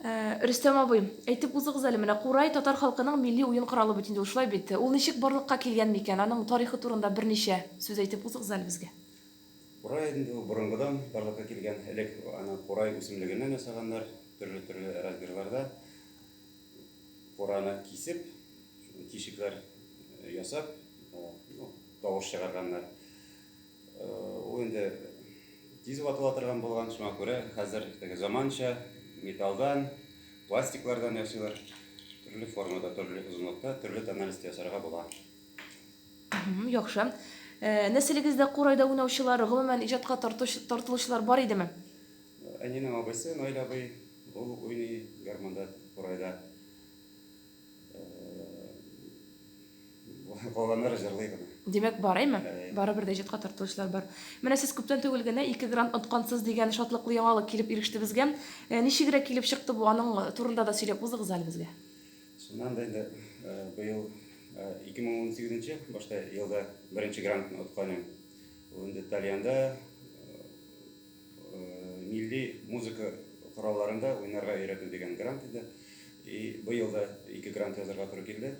Э, Рөстәм абый, әйтеп узыгыз әле, менә курай татар халкының милли уен коралы бит инде ул, шулай бит? Ул ничек барлыкка килгән микән? Аның тарихы турында берничә сүз әйтеп узыгыз әле безгә. Курай инде ул борынгыдан барлыкка килгән. Элек аны курай үсемлегеннән ясаганнар, төрле-төрле размерларда. Кураны кисеп, тишекләр э, ясап, э, ну, тавыш чыгарганнар. Ул инде тиз ватыла торган булган, шуңа күрә хәзер теге заманча металлдан, пластиклардан ясыйлар. Төрле формада, төрле озынлыкта, төрле тональность ясарга була. Яхшы. Э, нәселегездә курайда уйнаучылар, гомумән иҗатка тартуч- тартылучылар бар идеме? Әнинең абыйсы Наил абый, ул уйный гармунда, курайда. Калганнары җырлый гына. Димәк, барыймы? Барыбер дә иҗатка тартылучылар бар. Менә сез күптән түгел генә ике грант откансыз дигән шатлыклы яңалык килеп иреште безгә. Ничегрәк килеп чыкты бу, аның турында да сөйләп узыгыз әле безгә. Шуннан да инде быел 2018 нче башта елда беренче грантны откан идем. Ул инде Тальянда. милли музыка коралларында уйнарга өйрәтү дигән грант иде. И быел да ике грант язарга туры килде.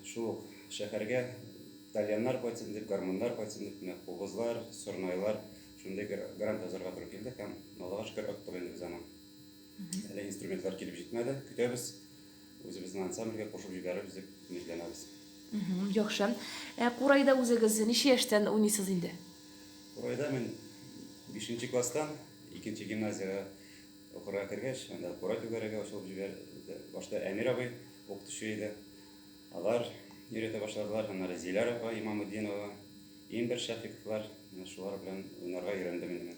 Шул ук шәһәргә тальяннар кайтсын дип, гармуннар кайтсын дип, менә кубызлар, сорнайлар, шундый грант язарга туры килде һәм Аллага шөкер, оттык инде без аны. Әле инструментлар килеп җитмәде, көтәбез. Үзебезнең ансамбльгә кушып җибәреп үзе өметләнәбез. Яхшы. Ә курайда үзегез ничә яшьтән уйныйсыз инде? Курайда мин бишенче класстан икенче гимназиягә укырга кергәч, анда курай түгәрәге ачылып җибәрде. Башта Әмир абый укытучы иде. Алар өйрәтә башладылар, аннары Зиләр апа Имамутдинова, Имбер Шәфыйковлар, менә шулар белән уйнарга өйрәндем инде мин.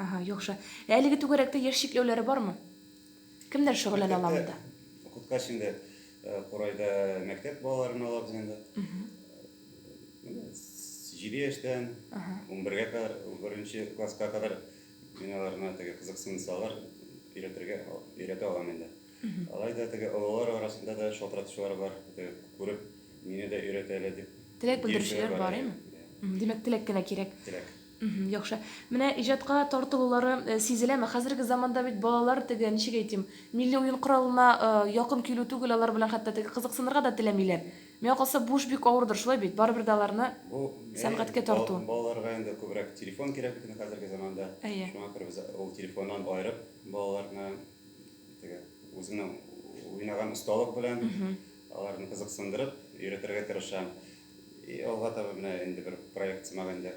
Ага, яхшы. Ә әлеге түгәрәктә яшь чикләүләре бармы? Кемнәр шөгыльләнә ала монда? Укыткач инде курайда мәктәп балаларын ала без инде. Җиде яшьтән унбергә кадәр, беренче класска кадәр мин аларны теге кызыксынсалар, өйрәтергә өйрәтә алам инде. Алай да теге олылар арасында да шалтыратучылар бар, күреп, мине дә өйрәтә әле дип. Теләк белдерүчеләр бар, әйме? Димәк, теләк кенә кирәк. Теләк. Мхм, яхшы. Менә иҗатка тартылулары сизеләме? Хәзерге заманда бит балалар теге, ничек әйтим, милли уен коралына якын килү түгел, алар белән хәтта теге кызыксынырга да теләмиләр. Миңа калса, бу эш бик авырдыр, шулай бит? Барыбер дә аларны Бу, әйе, сәнгатькә тарту. балаларга инде күбрәк телефон кирәк бит инде хәзерге заманда. Әйе. Шуңа күрә без ул телефоннан аерып, балаларны теге үземнең уйнаган осталык белән аларны кызыксындырып өйрәтергә тырышам. И алга таба менә инде бер проект сымагында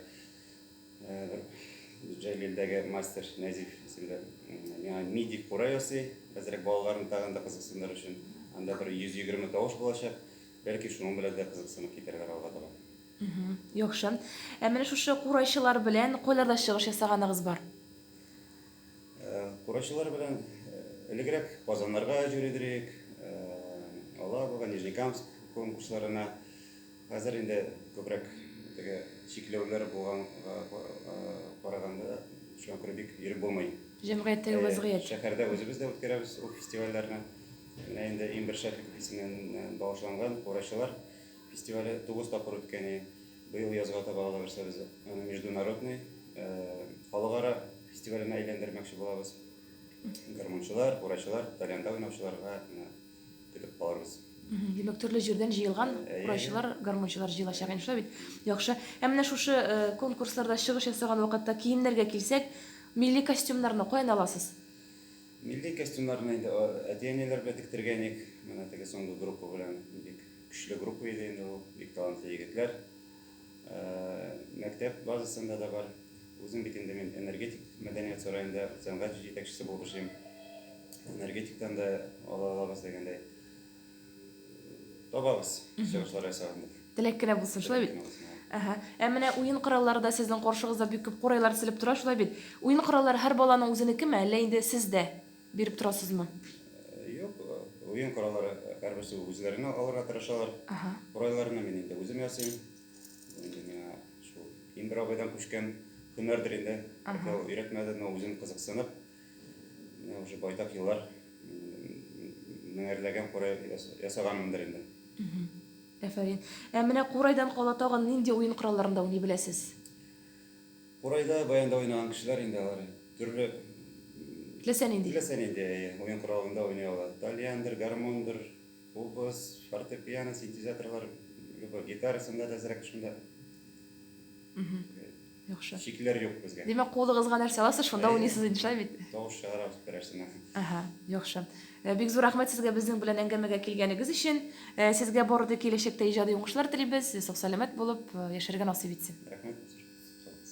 бер Җәлилдәге мастер Нәзиф исемле миңа миди кура ясый. Хәзерәк балаларны тагын да кызыксындыру өчен анда бер 120 тавыш булачак. Бәлки шуның белән дә кызыксынып китәрләр алга таба. Яхшы. Ә менә шушы курайчылар белән кайларда чыгыш ясаганыгыз бар? Курайчылар белән элегрәк Казаннарга җөридерик, алабуга, Нижнекамск конкурсларына. Хәзер инде күбрәк теге чикләүләр булганга караганда шуңа күрә бик йөреп булмый. Җәмгыятьтәге вазгыять. Шәһәрдә үзебез дә үткәрәбез ул фестивальләрне. Менә инде иң беренче исеменнән багышланган Курайчылар фестивале тугыз тапкыр үткәни. Быел язга таба аны берсебез международный, халыкара фестиваленә әйләндермәкче булабыз. Гармунчылар, курайчылар, тальянда уйнаучыларга көтеп калырбыз. Димәк, төрле җирдән җыелган курайчылар, гармунчылар җыелачак инде, шулай бит? Яхшы. Ә менә шушы конкурсларда чыгыш ясаган вакытта киемнәргә килсәк, милли костюмнарны каян аласыз? Милли костюмнарны инде әти-әниләр белән тектергән идек. Менә теге соңгы группа белән бик Көчле группа иде инде ул, бик талантлы егетләр. Мәктәп базасында да бар. Үзем бит инде мин энергетик мәдәният сараенда сәнгать җитәкчесе булып эшлим. Энергетиктан да ала алабыз дигәндәй. Табабыз чыгышлар ясаганда. Теләк кенә булсын, шулай бит? Әһә. Ә менә уен кораллары да сезнең каршыгызда бик күп курайлар тезелеп тора, шулай бит? Уен кораллары һәр баланың үзенекеме, әллә инде сездә Биреп торасызмы? Юк, уен кораллары һәрберсе үзләренә алырга тырышалар. Ага. Курайларны мин инде үзем ясыйм. Инде миңа шул Индер абыйдан күчкән һөнәрдер инде. Ага. Ул өйрәтмәде, но үзем кызыксынып, менә уже байтак еллар меңәрләгән курай ясаганмындыр инде. Әфәрин. Ә менә курайдан кала тагын нинди уен коралларында уйный беләсез? Курайда баянда уйнаган кешеләр инде алар. Төрле Теләсә нинди. Теләсә нинди уен коралында уйный ала. Тальяндыр, гармондыр, кубыз, фортепиано, синтезаторлар, любой гитарасында да әзрәк шунда. Яхшы. Чикләр юк безгә. Димәк, кулыгызга нәрсә аласыз, шунда уйныйсыз инде, шулай бит? Тавыш чыгарабыз берәрсенә. Ага, яхшы. Бик зур рәхмәт сезгә безнең белән әңгәмәгә килгәнегез өчен. Сезгә бары тик киләчәктә иҗади уңышлар телибез, сау-сәламәт булып яшәргә насыйп итсен. Рәхмәт, сез шундый сез калыгыз.